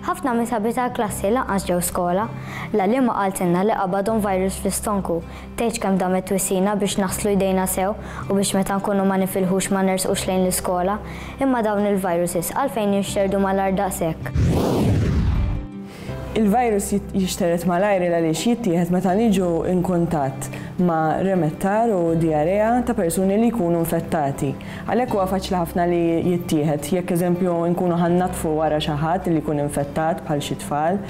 Ħafna mis-sabi tal-klassi lanqas ġew skola. L-għalliema qaltilna li qabadhom virus fl-istonku. Tgħidx kemm damet twissina biex naħslu jdejna sew u biex meta nkunu ma nifilħux ma nersqux lejn l-iskola. Imma dawn il-viruses għalfejn jinxterdu malajr daqshekk? Il-virus jixtered malajr għaliex jittieħed meta niġu inkuntatt ma' remettar u dijarea ta' persuni li jkunu infettati. Għalhekk huwa faċli ħafna li jittieħed. Jekk eżempju nkunu ħa nnaddfu wara xi ħadd li jkun infettat bħal xi tfal,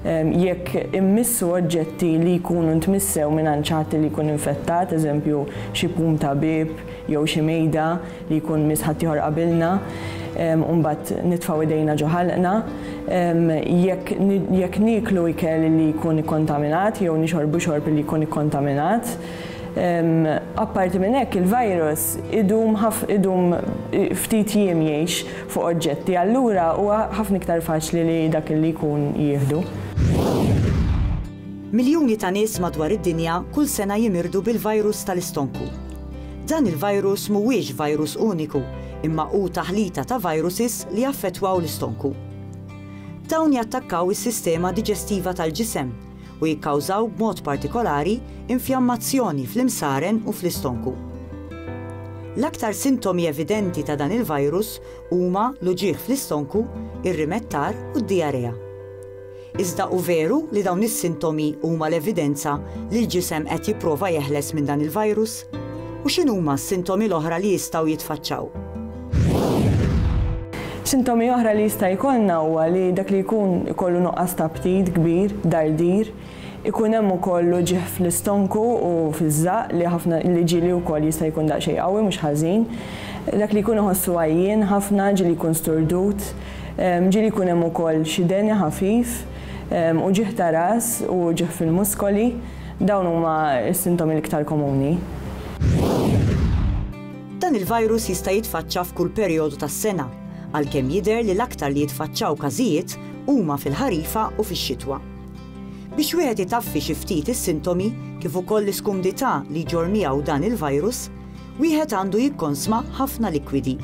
jekk immissu oġġetti li jkunu ntmissew mingħand xi ħadd li jkun infettat, eżempju xi pum ta' bieb jew xi mejda li jkun miss ħaddieħor qabilna u mbagħad nitfgħu idejna ġo ħalqna, jekk nieklu ikel li jkun ikkontaminat jew nixorbu xorb li jkun ikkontaminat. Apparti minn hekk, il-virus idum idum ftit jiem jgħix fuq oġġetti, allura huwa ħafna iktar faċli li dak li jkun jieħdu. Miljuni ta' nies madwar id-dinja kull sena jimirdu bil-virus tal-istonku. Dan il-virus mhuwiex virus uniku, imma hu taħlita ta' viruses li jaffettwaw l-istonku. Dawn jattakkaw is-sistema diġestiva tal-ġisem, u jikkawżaw b'mod partikolari infjammazzjoni fl-imsaren u fl-istonku. L-aktar sintomi evidenti ta' dan il-virus huma l-uġigħ fl-istonku, ir-rimettar u d-dijarea. Iżda hu veru li dawn is-sintomi huma l-evidenza li l-ġisem qed jipprova jeħles minn dan il-virus? U x'inhuma s-sintomi l-oħra li jistgħu jitfaċċaw? Sintomi oħra li jista' jkollna huwa li dak li jkun ikollu nuqqas ta' aptit kbir, dardir, ikun hemm ukoll uġigħ fl-istonku u fiż-żaqq li ħafna li ġieli wkoll jista' jkun daqsxejn qawwi mhux ħażin, dak li jkun iħossu għajjien ħafna, ġieli jkun sturdut, ġieli jkun hemm ukoll xi deni ħafif, uġigħ ta' ras u uġigħ fil-muskoli. Dawn huma s-sintomi l-iktar komuni. Dan il-virus jista' jitfaċċa f'kull perijodu tas-sena, għalkemm jidher li l-aktar li jitfaċċaw każijiet huma fil-ħarifa u fix-xitwa. Biex wieħed itaffi xi ftit is-sintomi kif ukoll l-iskumdità li jġorr miegħu dan il-virus, wieħed għandu jikkonsma ħafna likwidi.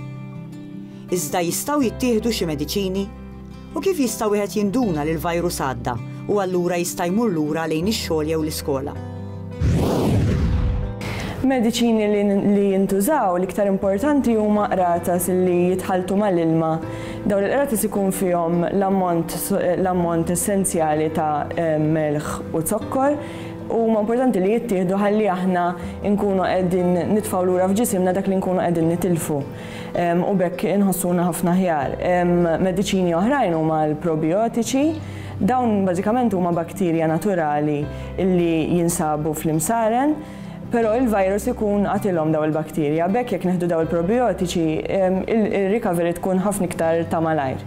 Iżda jistgħu jittieħdu xi mediċini? U kif jista' wieħed jinduna li l-virus għadda u allura jista' jmur lura lejn ix-xogħol jew l-iskola? Mediċini li jintużaw, l-iktar importanti huma qratas li jitħalltu mal-ilma. Dawn il-qratas ikun fihom l-ammont essenzjali ta' melħ u zokkor u huma importanti li jittieħdu ħalli aħna nkunu qegħdin nitfgħu lura f'ġisimna dak li nkunu qegħdin nitilfu. u b'hekk inħossuna ħafna aħjar. Mediċini oħrajn huma l-probijotiċi. Dawn bażikament huma baktirja naturali li jinsabu fl-imsaren, però il-virus ikun qatilhom daw il-baktirja. B'hekk jekk neħdu daw il-probijotiċi, ir-recovery tkun ħafna iktar ta' malajr.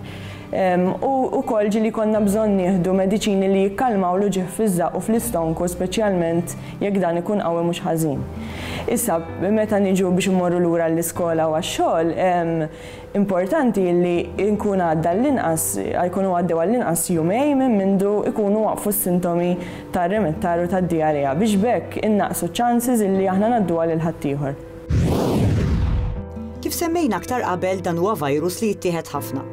U wkoll ġieli jkollna bżonn nieħdu mediċini li jikkalmaw l-uġigħ fiż-żaqq u fl-istonku speċjalment jekk dan ikun qawwi mhux ħażin. Issa, meta niġu biex immorru lura għall-iskola u għax-xogħol, importanti li jkun għadda għall-inqas, jkunu għaddew għall-inqas jumejn minn mindu jkunu waqfu s-sintomi tar-remittar u tad-diarrea biex b'hekk innaqqsu ċ-chances li aħna ngħadduha lil ħaddieħor. Kif semmejna aktar qabel dan huwa virus li jittieħed ħafna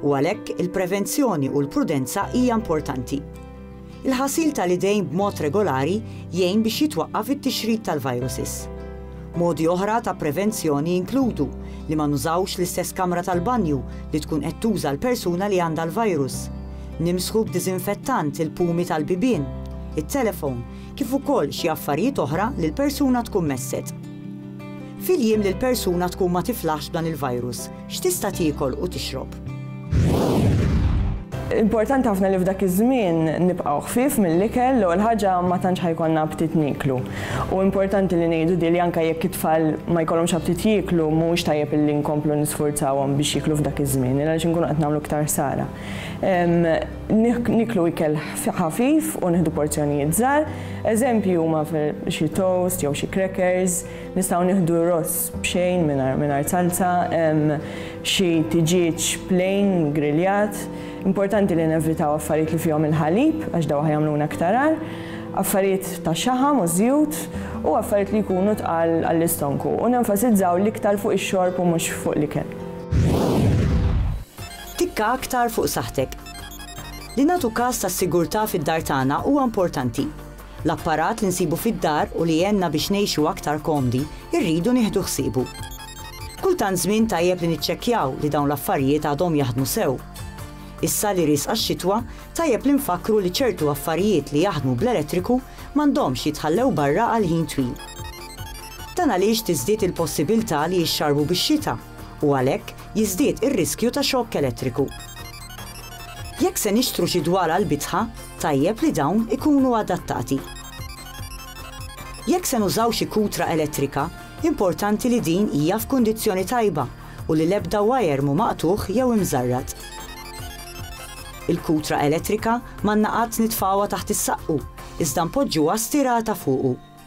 u għalhekk il-prevenzjoni u l-prudenza hija importanti. Il-ħasil tal-idejn b'mod regolari jgħin biex jitwaqqaf it-tixrid tal-viruses. Modi oħra ta' prevenzjoni jinkludu li ma nużawx l-istess kamra tal-banju li tkun qed tuża l-persuna li għandha l-virus, nimsħu b'diżinfettant il-pumi tal-bibien, it-telefon, kif ukoll xi affarijiet oħra li l-persuna tkun messet. Fil-jiem li l-persuna tkun ma tiflaħx b'dan il-virus, x'tista' tiekol u tixrob? Importanti ħafna li f'dak iż-żmien nibqgħu ħfief mill-ikel l-ewwel ħaġa ma tantx ħajkollna aptit nieklu. U importanti li ngħidu din li anke jekk it-tfal ma jkollhomx aptit jieklu mhuwiex tajjeb illi nkomplu nisfurzawhom biex jieklu f'dak iż-żmien għaliex inkunu qed nagħmlu iktar ħsara. Nieklu ikel ħafif u nieħdu porzjonijiet żgħar. Eżempji huma xi toast jew xi crackers, nistgħu nieħdu ross b'xejn mingħajr salza, xi tiġieġ plain griljat. Importanti li nevitaw affarijiet li fihom il-ħalib għax dawk ħajagħmluna iktar agħar, affarijiet tax-xaħam u ż-żjut u affarijiet li jkunu tqal għall-istonku u nenfasizzaw l-iktar fuq ix-xorb u mhux fuq l-ikel. Tikka aktar fuq saħħtek. Li nagħtu kas tas-sigurtà fid-dar tagħna huwa importanti. L-apparat li nsibu fid-dar u li jgħenna biex ngħixu aktar komdi rridu nieħdu ħsiebu. Kull tant żmien tajjeb li niċċekkjaw li dawn l-affarijiet għadhom jaħdmu sew. Issa li riesqa x-xitwa, tajjeb li nfakkru li ċertu affarijiet li jaħdmu bl-elettriku m'għandhomx jitħallew barra għal ħin twil. Dan għaliex tiżdied il-possibiltà li jixxarrbu bix-xita u għalhekk, jiżdied ir-riskju ta' xokk elettriku. Jekk se nixtru xi dwal għall-bitħa, tajjeb li dawn ikunu adattati. Jekk se nużaw xi kutra elettrika, importanti li din hija f'kundizzjoni tajba u li l-ebda wajer mhu maqtugħ jew imżarrad. Il-kutra elettrika m'għandna qatt nitfgħuha taħt is-saqqu, iżda npoġġuha stirata fuqu.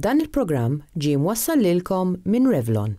Dan il-programm ġie mwassal lilkom minn Revlon.